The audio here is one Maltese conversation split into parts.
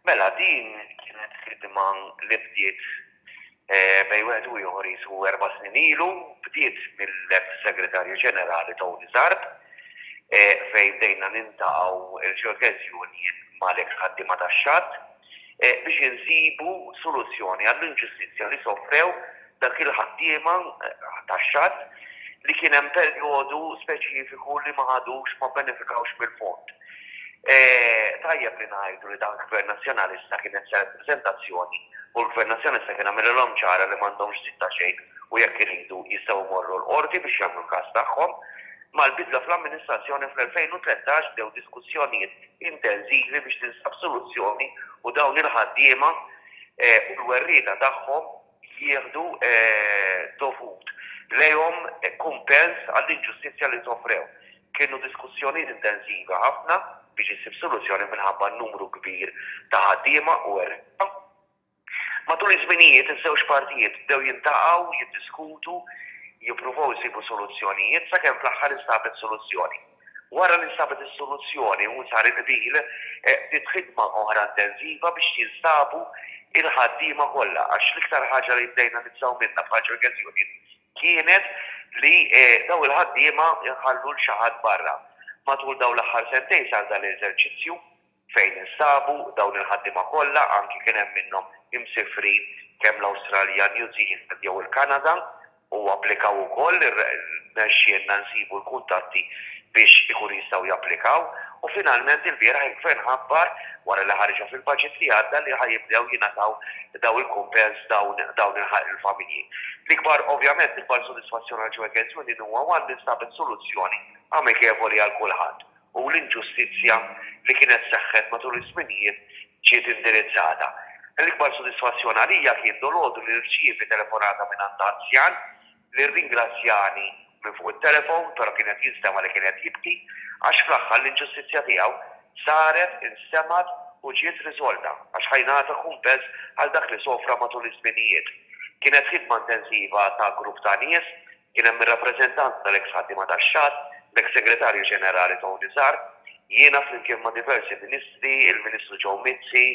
Mela din kienet ħidma li bdiet bejn wieħed u ieħor qisu erba' snin ilu, bdiet mill-eks Segretarju Ġenerali Tony Zarb fejn bdejna nintaqgħu l-Ġeokeżjonijiet mal-eks ħaddiema tax-xatt biex insibu soluzzjoni għall-inġustizzja li sofrew Dawk il-ħaddiema taxxat li kien hemm perjodu speċifiku li ma ħadux, ma bbenefikawx mill-fond. Tajjeb li ngħidu li dan Gvern Nazzjonalista kien qed isellef preżentazzjoni u l-Gvern Nazzjonalista kien għamililhom ċara li m'għandhomx żid ta' xejn u jekk iridu jistgħu jmorru l-Qorti biex jagħmlu l-każ tagħhom. Mal-bidla fl-amministrazzjoni fl-2013 bdew diskussjonijiet intensivi biex tinstab soluzzjoni u dawn il-ħaddiema u l-werrieta tagħhom, jieħdu d-dovut lejhom kumpens għall-inġustizzja li sofrew. Kienu diskussjonijiet intensivi ħafna biex issir soluzzjoni minħabba n-numru kbir ta' ħaddiema u għerriebħa. Matul iż-żminijiet, iż-żewġ partijiet bdew jiltaqgħu, jiddiskutu, jippruvaw isibu soluzzjonijiet sakemm fl-aħħar instabet soluzzjoni. Wara li nstabet is-soluzzjoni u sar il-qbil, bdiet ħidma oħra intensiva biex jinstabu l-ħaddiema kollha għax l-iktar ħaġa li bdejna nibżgħu minnha bħala Cherkess Union kienet li dawn il-ħaddiema jħallu 'l xi ħadd barra. Matul dawn l-aħħar sentejn sar dan l-eżerċizzju. Fejn instabu dawn il-ħaddiema kollha, anki kien hemm minnhom imsifrin kemm l-Awstralja, New Zealand jew il-Kanada u applikaw ukoll, rnexxielna nsibu l-kuntatti biex ikunu jistgħu japplikaw u finalment ilbieraħ il-Gvern ħabbar, wara li ħariġha fil-budget li għadda, li ħa jibdew jingħataw dawn il-kumpens dawn il-familji. L-ikbar, ovvjament, l-ikbar sodisfazzjon għall-Joe Against Women huwa one li nstabet soluzzjoni amikevoli għal kulħadd. u l-inġustizzja li kienet seħħet matul iż-żminijiet ġiet indirizzata. L-ikbar sodisfazzjon għalija kien dolodu li rċievi telefonata mingħand anzjan li rringrazzjani minn fuq it-telefon, però kien qed jinstema' li kien qed jibki, għax fl-aħħar l-inġustizzja tiegħu saret, instemgħet u ġiet riżolta, għax ħa jingħata kumpens għal dak li sofra matul iż-żminijiet. Kienet ħidma intensiva ta' grupp ta' nies Kien hemm ir-rappreżentanti tal-eks ħaddiema tax-xatt, l-eks Segretarju Ġenerali Tony Sarb, jiena flimkien ma' diversi Ministri, il-Ministru Joe Mizzi,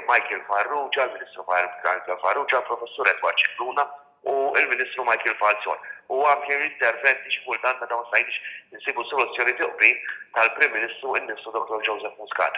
Michael Farrugia, l-Ministru Michael Farrugia, il-Professur Edward Scicluna u l-Ministru Michael Falzon. U anke interventi xi kultant meta ma stajniex insibu soluzzjoni bi qbil tal-Prim Ministru innifsu Dottor Joseph Muscat.